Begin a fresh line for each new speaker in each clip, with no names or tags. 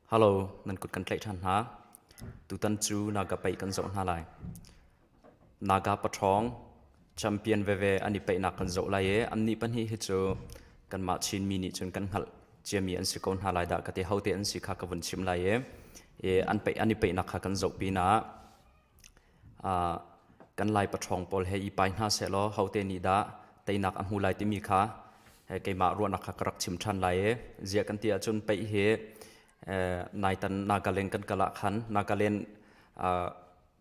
Halo, nan kut kan tlaih ṭhan hna. Tutan cu Naga paih kan zoh hna lai. Naga paṭhawng, champion veve an i paihnak kan zoh lai i annih pahnih hi cu kanmah Chinmi nih cun kan hngalh ciami an si ko hna lai dah ka ti. Hote an si kha ka vun chim lai i, i an, paih, an i paihnak kha kan zoh pinah kan lai paṭhawng pawl he i pai hna sehlaw hote nih dah teinak a hmu lai timi kha keimah ruahnak kha ka rak chim ṭhan lai i ziah kan ti ahcun peih hi naitan Nagaland kan kal ah khan Nagaland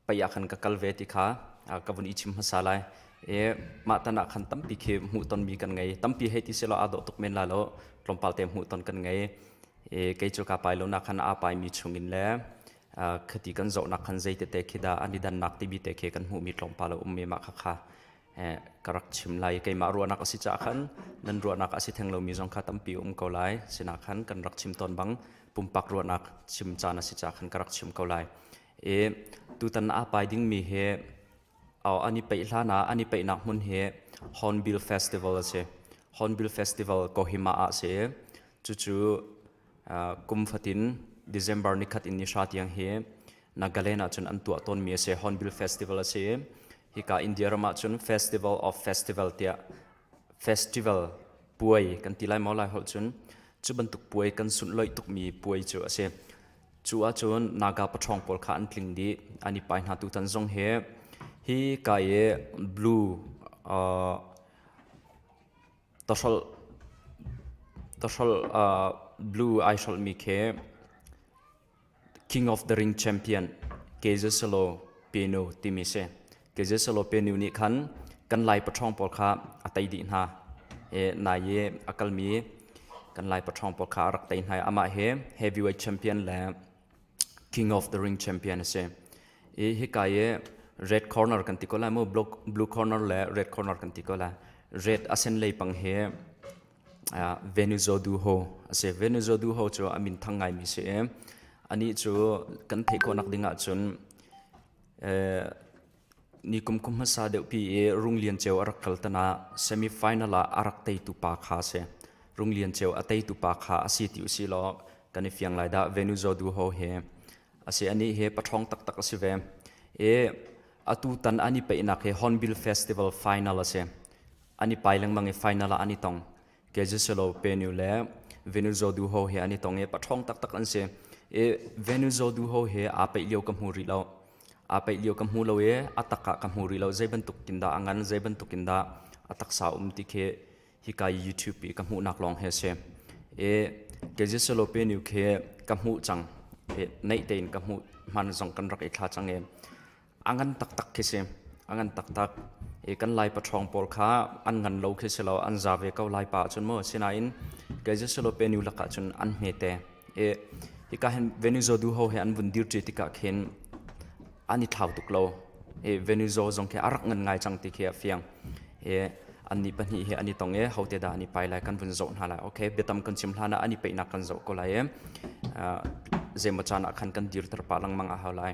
pei ah khan ka kal ve ti kha ka vun i chim hmasa lai i mah tan ah khan tampi khi hmuh tonmi kan ngei tampi hei ti sehlaw aa dawh tuk men lai lo tlawmpal te hmuh ton kan ngei i kei cu kaa pai lonak khan aa paimi chungin le khati kan zohnak khan zei tete khi dah an i dannak timi te khi kan hmuhmi tlawmpal a um mah kha kha ka rak chim lai keimah ruahnak a si caah khan nan ruahnak a si theng lomi zong kha tampi um ko lai sinah khan kan rak chim tawn bang pumpak ruahnak chim caan a si caah khan ka rak chim ko lai i tutan a pai dingmi hi ani peih hlan ah ani peihnak hmun hi Hornbill Festival a si Hornbill Festival Kohima ah si cucu kum fatin December nikhat in nihra tiang hi Nagaland ahcun an tuah tawnmi a si Hornbill Festival a si hika India ram ahcun Festival of Festival tiah festival puai kan ti lai maw lai holh cun cu bantuk puai kan sun loih tukmi puai cu a si cu ahcun naga paṭhawng pawl kha an tling dih an i pai hna tu tan zong hi hi ka i blue uh, Tahrolh blue ai hrolhmi khi King of the Ring Champion ke Zesalo Penu timi si. Ke Zesalo Penu nih khan kan lai paṭhawng pawl kha a tei dih hna i nai i a kalmi kan lai paṭhawng pawl kha a rak tei hna i amah hi heavyweight champion le King of the Ring champion a si. I hika i red corner kan ti ko lai mu, blue corner le red corner kan ti ko lai. Red a sen lei pang hi uh, Venuzo du ho a si. Venuzo du ho cu a min thang ngai mi si i, ani cu kan theih ko nak ding ah cun uh, Ni kum kum hmasa deuhpi i Rung Lian Ceu a rak kal tanak semi-final ah a rak teitu pa kha a si. Rung Lian Ceu a teitu pa kha a si ti u si law kan i fiang lai dah Venuzo Du Ho he. A si anih hi paṭhawng taktak a si ve. I atu tan an i peihnak hi Hornbill Festival final a si. An i pai lengmang i final ah an i tong. Kezisalo Penu le Venuzo Du Ho he an i tong i paṭhawng taktak an si. I Venuzo Du Ho he aa peih lio ka hmu rih lo. Aa peih lio ka hmu lo i a tak ah ka hmu rih lo. Zei bantukin dah a ngan, zei bantukin dah a taksa um ti khi hika i YouTube i ka hmuhnak lawng hi a si. I Kezisalo Penu khi ka hmuh cang. I neih tein ka hmuh hman zong kan rak i thla cang i A ngan taktak khi si. A ngan taktak. I kan Lai paṭhawng pawl kha an ngan lo khi si lo, an za ve ko Lai pa ahcun maw. Sinain kei Jesulo pe nu lakah cun an hmete. I hika hin Venuzo duho he an vun dirṭi tikah khin an i thlau tuk lo. I Venuzo zong khi a rak ngan ngai cang ti khi a fiang. I annih pahnih hi an i tong i hote dah an i pai lai kan vun zoh hna lai. Okay, biatam kan chim hlanah an i peihnak kan zoh ko lai i uh, zeimaw caan ah khan kan dirter pah lengmang a hau lai.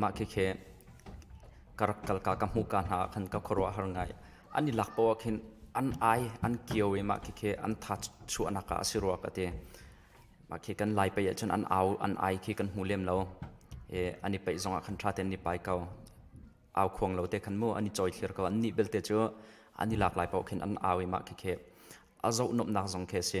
Mah khikhe ka rak kal ka ka hmuh ka hna ah khan ka khuaruah har ngai. An i lak poh ah khin an ai an kio i mah khikhe an tha chuahnak ah a si rua ka ti. Mah khi kan lai pei ahcun an au an ai khi kan hmu lem lo. An i peih zong ah khan tha tein an i pai ko. Au khuang lo te khan mu an i cawi thlir ko. Annih belte cu an i lak lai poh khin an au i mah khikhe a zoh nuamhnak zong khi a si.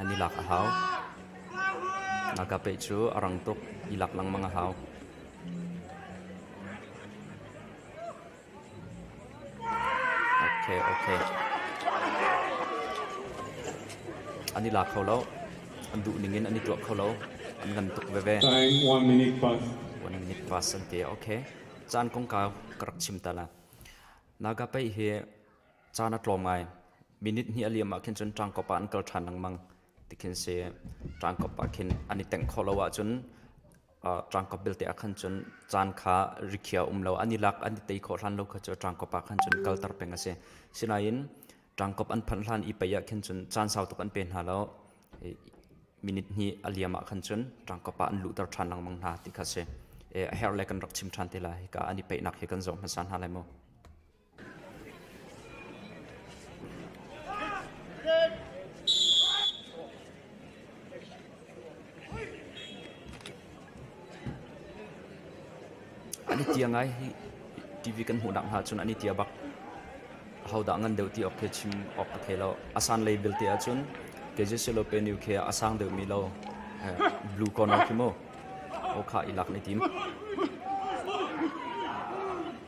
An i lak a hau. Ngak'a peh cu a rang tuk. I lak lengmang a hau. Okay, okay. An i la kho lo. An duh ning in an i tuah kho lo. An ngan tuk veve. Time one minute past. One minute past an ti. Okay. Caan kong ka rak chim ta la. Ngak'a peh hi Caan a tlawm ngai. Minute hnih a liam ahkhin cun ṭangkop ah an kal ṭhan lengmang. Tikhin si ṭangkop ahkhin an i tengh khawh lo ahcun uh, ṭangkop belte ahkhan cun caan kha rikhiah um lo an i lak an i tei khawh hlan lo kha cu ṭangkop ahkhan cun kalter peng a si. Sinain ṭangkop an phanh hlan i pei ahkhin cun caan sau tuk an pe hna lo. I minute hnih a liam ahkhan cun ṭangkop ah an luhter ṭhan lengmang hna ti kha si. E, a herh le kan rak chim ṭhan te la hika an i peihnak hi kan zoh hmasa hna lai maw? An i tia ngai hi TV kan hmuhnak hna cun an i tia bak. Ahodah ngan deuh ti awk khi chim awk a thei lo. A san lei belte ahcun KJC lo pe nu khi a sang deuhmi lo eh, blue corner khi mu. Okha i lak ni tim.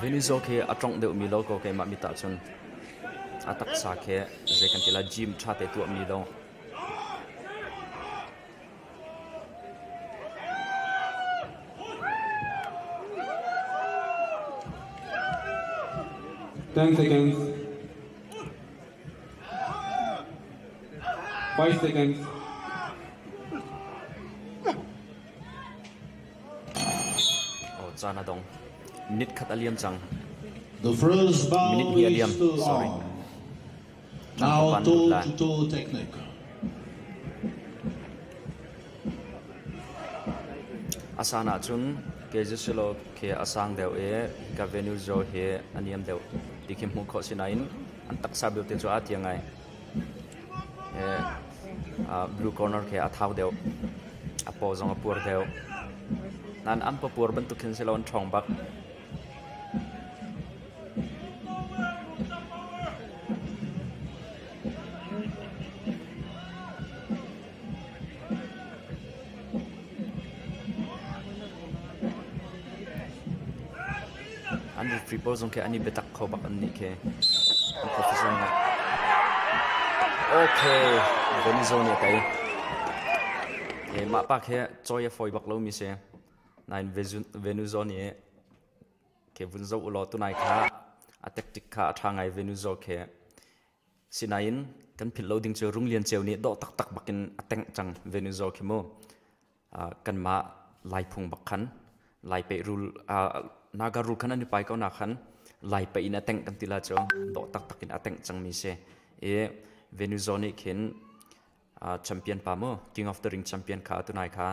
Venizo khi a ṭongh deuhmi lo kaw keimah mit ahcun a taksa khi zei kan ti lai gym ṭhate tuahmi lo Thanks Five seconds. Caan a dong. Minute khat a liam cang. Minute hi a liam. Sorry. Now toe to toe technique. Asan ah cun ke zisilo ke asang deu e ka venue zo he aniam deu. Di khi hmu kho sinain an taksa belte cu a tiang ai. blue corner khi a thau deuh a paw zong a puar deuh nain an papuar bantuk hin si lo an ṭhawng bak An rukri pawl zong khi an i biatak kho bak an nih khi. An profession ah. Okay, Benizo nih a tei. Okay, mah pa khi cawi a fawi bak lomi si. Nain Venuzo nih okay, vun zoh u law tunai kha a tactic kha a ṭha ngai Venuzo khi. Sinain kan philh lo ding cu Rung Lian Ceu nih dawh taktak bakin a tengh cang ve nun zaw khi mu. Uh, kanmah laiphung bak khan laipe rul uh, naga rul khan an i pai ko na khan laipe in a tengh kan tila cu dawh taktak in a tengh cang mi si i Venuzo nih khin uh, champion pa mu King of the Ring champion kha atunai kha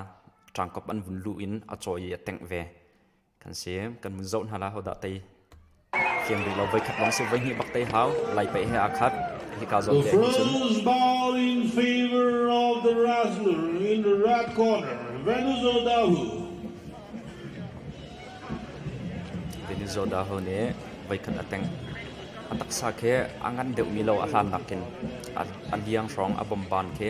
ṭangkop an vun lu in a cawi i a tengh ve kan si kan mun zoh hna la hodah tei thiam rih lo voi khat lawng si voi hnih bak tei hau lai pe he akhat hi ka zon te ni The cun first ball in favor of the Razzler in the red corner, Venus Odahu. Venizo Daho nih voi khat a teng a taksa khi a ngan deuh mi lo a hlan nakin a liang hrawng a bomban khi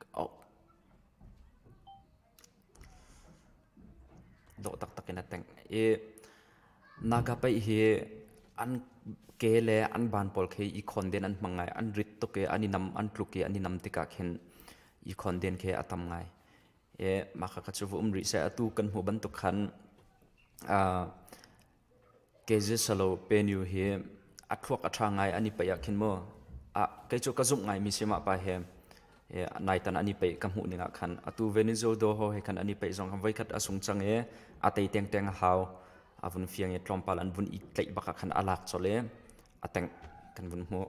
ka auh. Dawh taktak in a teng i Nagapaih hi an ke le an ban pawl khi i khon den an hmang ngai. An rit tuk i an i nam, an tluk i an i nam tikah khin i khon den khi a tam ngai. I mah kha cu va um rih seh. Atu kan hmuh bantuk khan ah Kezesalo Penu hi a thluak a ṭha ngai an i paih ahkhin maw ah kei cu ka zumh ngaimi si mah pa he naitan an i paih ka hmuh ning ahkhan atu Venezuela he he khan an i paih zong khan voikhat a sung cang i a tei tengteng a hau a vun fiang i tlawmpal an vun i tlaih bak ahkhan a lak colh i a tengh kan vun hmuh.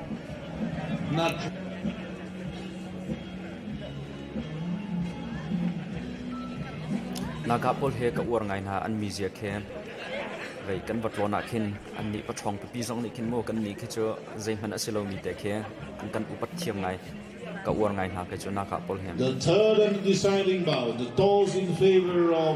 Nakah pawl he ka uar ngai hna an mizia khi vei kan va tlawn ah khin annih paṭhawng pipi zong nih khin maw kannih khi cu zeihmanh a si lomi te khi an kan upat thiam ngai ka uar ngai hna kei cu nakah pawl hin The third and deciding vow, the tolls in favor of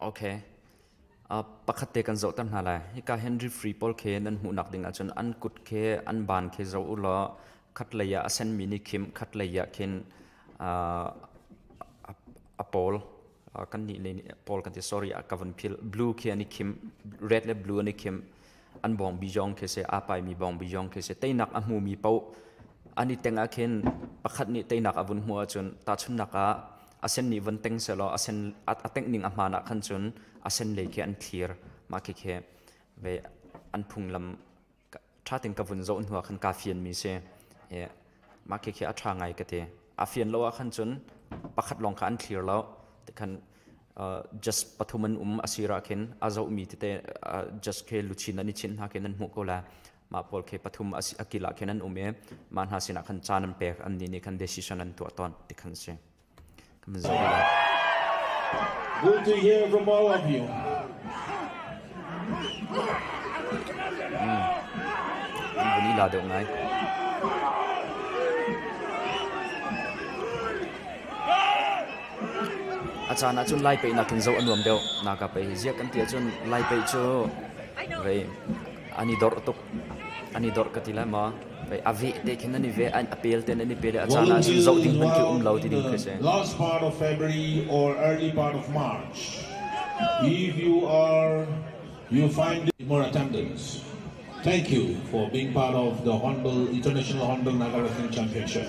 Okay. Uh, pakhat te kan zohter hna lai. Hika Henry Free pawl khe nan hmuhnak ding ahcun an kut khe, an ban khe zo u law khat lei ah a senmi ni khim, khat lei ah khin uh, a, a pawl uh, kan nih le pawl kan ti sorry a ka von phil blue khe ani khim red le blue ani khim an bawngbi zong khi si aa paimi bawngbi zong khi si teinak a hmumi paoh an i teng ah khin pakhat nih teinak a vun hmuh ahcun tahchunnak ah a sen nih vun teng sehlaw a sen a, a tengh ning a hmaan ah khan cun a sen lei khi an thlir mah khi khi ve an phunglam ṭha tein ka vun zoh hnu ah khan kaa fianmi si yeah. mah khi khi a ṭha ngai ka ti a fian lo ah khan cun pakhat lawng kha an thlir lo tikhan just pathum an um asira khin a zohmi tete just ke luchin an i chin hna khin an hmuh ko la ma paul ke pathum akila khin an um i ma hna sinah khan caan an pek an ni nih khan decision an tuah ton ti khan si kaman zo ila Good to hear from all of you. An vun i la deuh ngai. A caan ahcun lai peihnak in zoh a nuam deuh. Naka pei ziah kan ti ahcun lai peih cu vei an i dor tuk. An i dor ka ti lai ma? Pei a veh te khin an i veh, a pel te in an i pel i a caan ah cun zoh ding hmanh khi um lo ti ding khi a si. Last part of February or early part of March, if you are you find more attendance, thank you for being part of the Hornbill International Hornbill Nagarrfing Championship.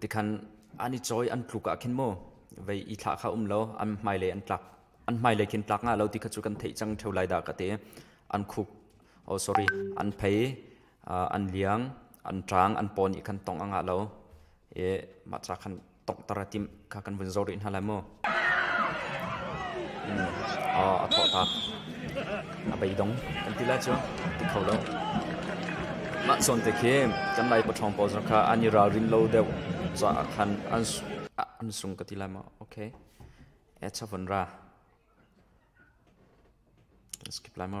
tikhan an i choi an tluk ah khin mu vei i thla kha um lo an hmailei an tlak an hmailei khin tlak nga lo ti kha chu kan theih cang theo lai da ka te an khuk oh sorry an phei an liang an trang an pon i khan tong anga lo e ma cha khan tong tara tim kha kan vun zo rin ha lai mu a thawhtak. A beidong an ti la cu ti kho lo. Mah zawn te khin kan lai pathawng pawl zong kha an i ralrin lo deuh za khan an an sung ka ti lai ma okay e chavon ra skip lai ma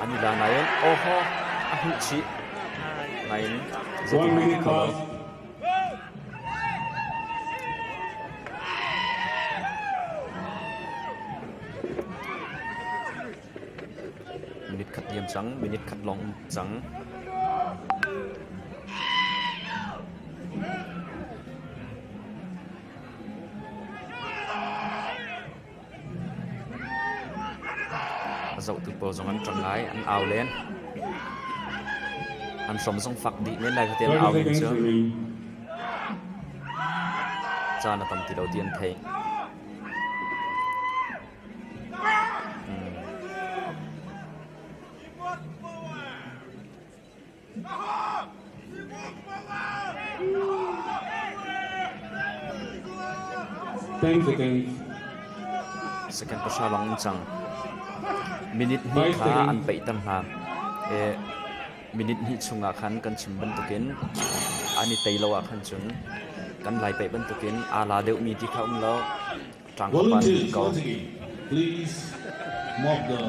An i la nain Ohaw a hmuh chih nain zeitin mah ka lo. Minute khat liam cang, minute khat lawng um cang. Zohtu pawl zong an ṭang ngai, an au len. An hrom zong fak dih men lai, khatiang au len cu. Caan a tam ti lo ti an theih. Second pahra lawng an cang. Minute hnih kha an peihter hna. E, minute hnih chungah khan kan chim bantukin an i tei lo ah khan cun kan lai peih bantukin aa la deuhmi ti kha um lo. Volunteers watching in, please mop the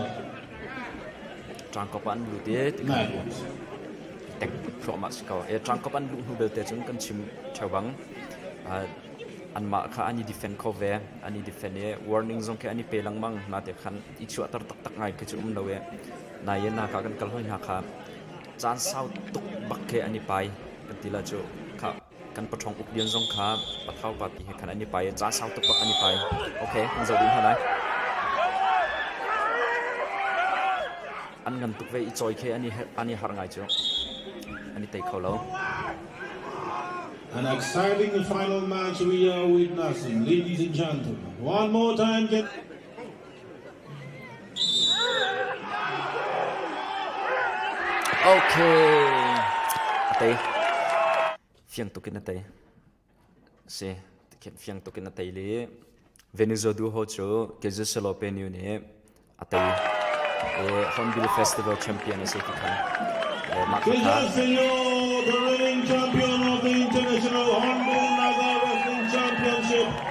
Ṭangkop ah an lut i nice. tek thluahmah si ko. E ṭangkop an luh hnu belte cun kan chim theo bang anmah kha an i defend kho ve an i defend i warning zong khi an i pe lengmang na te khan i chuahter taktak ngai khi cu um lo e na ye na ka kan kal hoi hna kha caan sau tuk bak khi an i pai kan ti la cu kha kan paṭhawng Uk Lian zong kha Pathau party he khan an i pai i ca sau tuk bak an i pai. Ok, an zoh dih hna lai. An ngan tuk ve i cawi khe an i an i harh ngai cu an i tei kho lo. An exciting final match we are witnessing, ladies and gentlemen. One more time, get Okay. A tei. Fiang tukin a tei. Si. Fiang tukin a tei li. Venezuela du ho chu Kezia Selope ni nih a tei. E Hornbill Festival champion a si ti kha. E mah kha. Señor, the reigning champion of the International Hornbill Naga Wrestling Championship.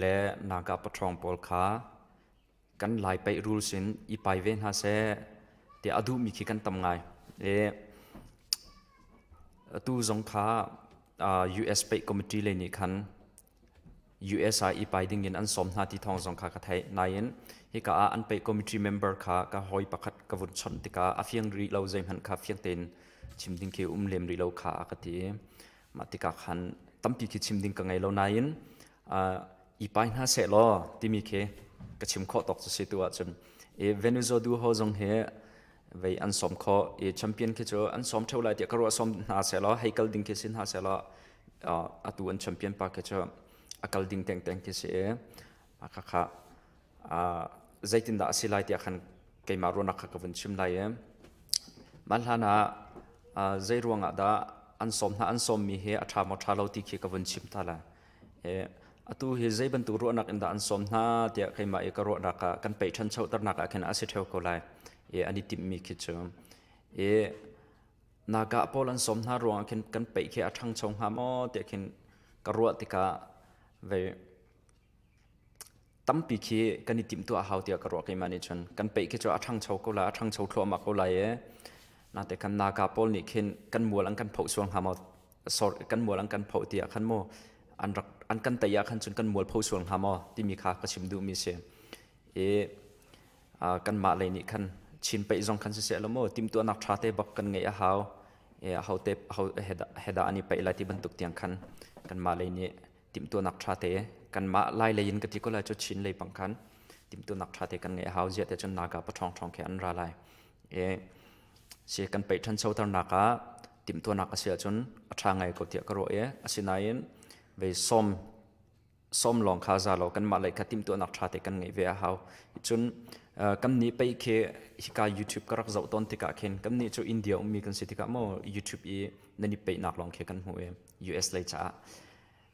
le naka paṭhawng pawl kha kan lai paih rules in i pai ve hna seh ti a duhmi khi kan tam ngai i atu zong kha US paih committee lei nih khan US ai i pai ding in an sawm hna ti thawng zong kha ka thei nain hika ah an paih committee member kha ka hoi pakhat ka vun chawnh tikah a fiang rih lo zeihmanh kha fiang tein chim ding khi um lem rih lo kha a ka ti Mah tikah khan tampi khi chim ding ka ngei lo nain i pai hna seh law timi khi ka chim khawh tawk cu si tu ahcun i Venezuela du ho zong hi vei an som kho i champion khi cu an som theo lai tiah ka ruah som hna seh law hei kal ding khi si hna seh law atu an champion pa khi cu a kal ding tengteng khi si i a ka kha zeitindah a si lai tiah khan keimah ruahnak kha ka vun chim lai i mah hlan ah zei ruangah dah an sawm hna an sawmmi hi a ṭha maw ṭha lo ti khi ka vun chim ta la atu hi zei bantuk ruahnak in dah an sawm hna tiah keimah i ka ruahnak ah kan pei ṭhanchoternak ah khin a si ṭheo ko lai i an i timhmi khi cu i nagah paul an sawm hna ruangah khin kan peih khi a ṭhangcho hnga maw tiah khin ka ruah tikah vei tampi khi kan i timhtuah a hau tiah ka ruah ke ma nih cun kan peih khi cu a ṭhangcho ko lai a ṭhangcho thluahmah ko lai i nate kan naka pawl nih khin kan mual an kan phoh suang hnga maw sor kan mual an kan phoh tiah khan mu an rak an kan tei ah khan cun kan mual phoh suang hnga maw timi kha ka chim duhmi si i kanmah lei nih khan chin peih zong khan siseh lo mu timtuahnak ṭha te bak kan ngeih a hau i a hote heda an i peih lai ti bantuk tiang khan kanmah lei nih timhtuanak ṭhate kanmah lailei in ka ti ko lai cu Chin lei pang khan timhtuanak ṭhate kan ngeih a hau ziate cun naka paṭhawngṭhawng khi an ra lai e si kan peih ṭhanchoternak ah timhtuanak a si ahcun a ṭha ngai ko tiah ka ruah i asinain vei som som lawng kha za law kanmah lei kha timhtuanak ṭhate kan ngeih ve a hau cun kan nih pei khi hika YouTube ka rak zoh tawn tikah khin kan nih cu India ummi kan si tikah maw YouTube i nan i peihnak lawng khi kan hmu i US lei caah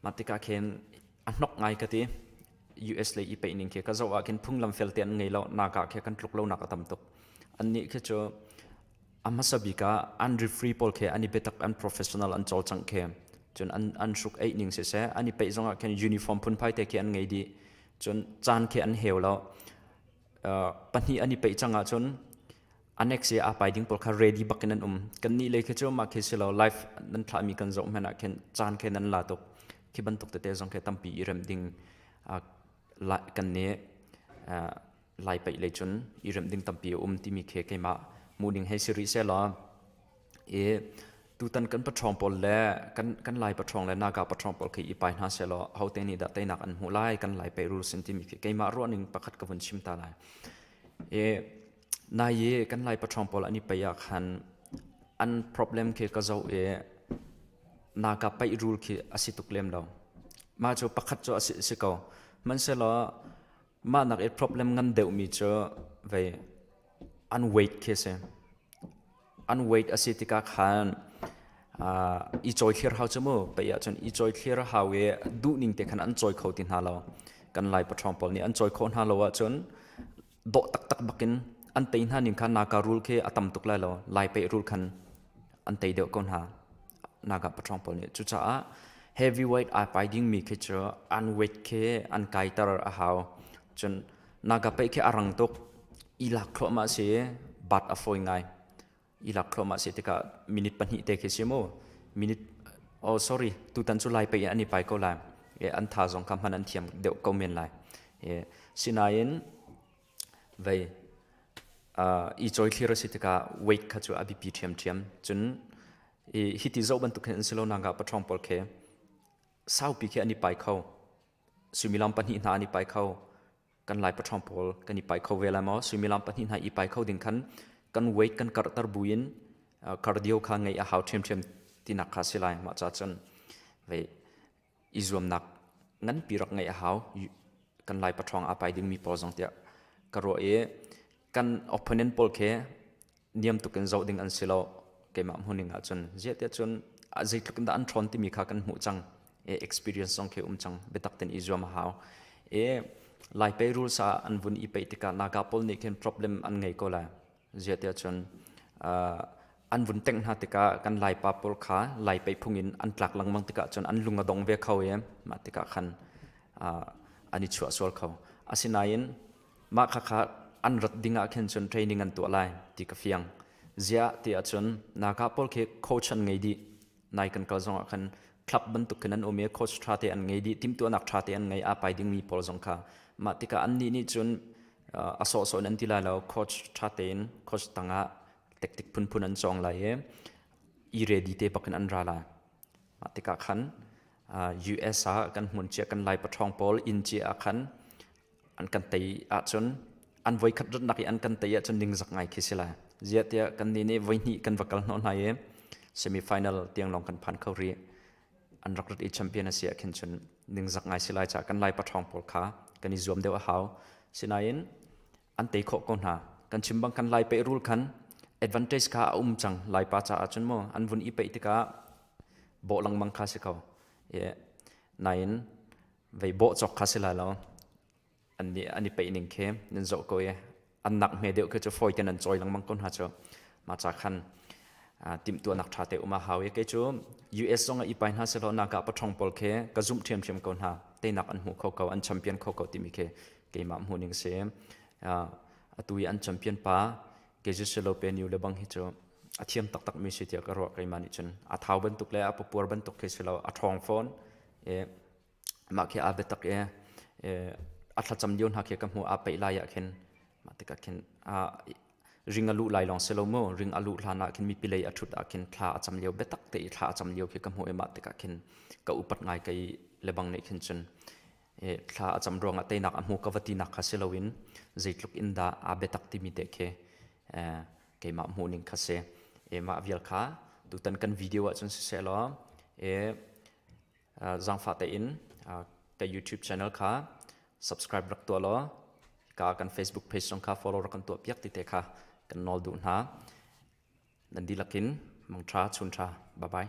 mah tikah khin a hnok ngai ka ti US lei i peihning khi ka zoh ah khin phunglam fel te an ngei lo naka khi kan tluk lonak a tam tuk an nih khi cu a hmasa bik ah an refree pawl khi an i betak an professional an chol chang khi cun an an hruk eih ning se se an i peih zong ah khin uniform phun phai te khi an ngei di cun caan khi an heu lo pahnih an i peih cang ahcun annex i aa pai ding pawl kha ready bak in an um kannih lei khi cu mah khi si lo live nan thlahmi kan zoh hmanh ah khin caan khe nan la tuk khi bantuk tete zong khe tampi i rem ding kan ne lai peih lei cun i rem ding tampi a um timi khe keimah mu ding hei si rih seh law i tutan kan paṭhawng pawl le kan kan lai paṭhawng le naka paṭhawng pawl khi i pai hna sehlaw hote nih dah teinak an hmuh lai kan lai pei rul sin timi khi keimah ruahning pakhat ka vun chim ta lai i nai i kan lai paṭhawng pawl an i pei ah khan an problem khi ka zoh i naka pei rul khi a si tuk lem lo mah cu pakhat cu a si si ko hmanhsehlaw Mahnak i problem ngan deuhmi cu vei an weight khi a si. An weight a si tikah khan uh, i cawi thlir hau cu mu pei ahcun i cawi thlir a hau i duhning te khan an cawi kho ti hna lo. Kan Lai paṭhawng pawl nih an cawi khawh hna lo ahcun dawh taktak bakin an tei hna ning khan naka rul khi a tam tuk lai lo. Lai pei rul khan an tei deuh ko hna nagah pathong pawl nih cucaah heavyweight ai pai dingmi khi cu an weight khi an kaiter a hau cun naga pei khi a rang tuk i lak thluahmah si bat a fawi ngai i lak thluahmah si tikah minute pahnih te khi si mu minute oh sorry tutan cu lai pei an i pai ko lai e an tha zong kha hman an thiam deuh ko men lai e sinain vei i cawi thlir a si tikah weight kha cu a biapi ṭhiamṭhiam. Cun i hiti zoh bantuk khin an si lo nangah paṭhawng pawl khi saupi khi an i pai kho. Suimilam pahnih hna an i pai kho. Kan Lai paṭhawng pawl kan i pai kho ve lai maw? Suimilam pahnih hna i pai kho ding khan kan weight kan karhter buin cardio kha ngeih a hau ṭhiamṭhiam tinak kha a si lai. Mah ca cun vei i zuamnak nganpi rak ngeih a hau. Kan Lai patrawng aa pai dingmi pawl zong tiah ka ruah i kan opponent pawl khi niam tuk in zoh ding an si lo. Keimah hmuhning ahcun ziahtiah cun zeitluk in dah an ṭhawn timi kha kan hmuh cang i experience zong khi um cang. Biatak tein i zuam a hau. I Lai pei rules ah an vun i peih tikah Naga pawl nih khin problem an ngei ko lai. ziate cun an vun tengh hna tikah kan laipa pawl kha lai pei phung in an tlak lengmang tikah cun an lung a dong ve kho i mah tikah khan an i chuah sual kho asinain mah kha kha an rat ding ah khin cun training an tuah lai ti ka fiang ziah ti ahcun naka pawl khi kochan ngei dih nai kan kal zongah khan club bantuk khin an um i coach ṭha te an ngei dih timhtuahnak ṭha te an ngei a pai dingmi pawl zong kha mah tikah annih nih cun a sawhsawh in an ti lai lo coach ṭha tein coach tangah taktik phunphun an cawng lai i i ready te bakin an ra lai mah tikah khan US ah kan hmun cia kan lai paṭhawng pawl inn cia ah khan an kan tei ahcun an voi khat rutnak i an kan tei ahcun ningzak ngai khi si lai ziahtiah kannih nih voi hnih kan va kal hnawh hna i semi final tiang lawng kan phan kho rih an rak rut i champion a si ah khin cun ningzak ngai si lai caah kan lai paṭhawng pawl kha kan i zuam deuh a hau sinain an tei khawh ko hna kan chim bang kan lai peih rul khan advantage kha a um cang laipa caah cun maw an vun i peih tikah bawh lengmang kha si ko nain vei bawh cawk kha si lai lo an ni an i peih ning khi nan zoh ko i an nak hme deuh khi cu fawi te nan chawi lengmang ko hna cu ma cha khan timtuah nak ṭha te um a hau i kei cu US zong a ipai hna selaw naka pathong pawl khi ka zumh ṭhiamṭhiam ko hna teinak an hmu kho ko an champion kho ko timi khi keimah hmu ning si atu i an champion pa Jesus Selope New le bang hi cu a thiam taktak mi si tiah ka ruah keimah nih cun a thau bantuk le a papuar bantuk khi si lo a ṭhawng fawn mah khi aa biatak i a thlacam lio hna khi ka hmuh aa peih lai ah khin mah tikah khin ring a luh lai lawng si lo mu ring a luh hlan ah khin mipi lei a ṭhut ah khin thla a cam lio biatak te i thla a cam lio khi ka hmuh i mah tikah khin ka upat ngai ka i lebang nih khin cun thla a cam ruangah teinak a hmu ka va tinak kha si loin zeitluk in dah aa biatak timi te khi keimah hmuhning kha si mah vial kha tutan kan video ah cun siseh law zangfa tein ka YouTube channel kha subscribe rak tuah law ka kan Facebook page zong kha follow rak kan tuah piak ti te kha kan nawl duh hna nan dilakin mangtha chuntra bye bye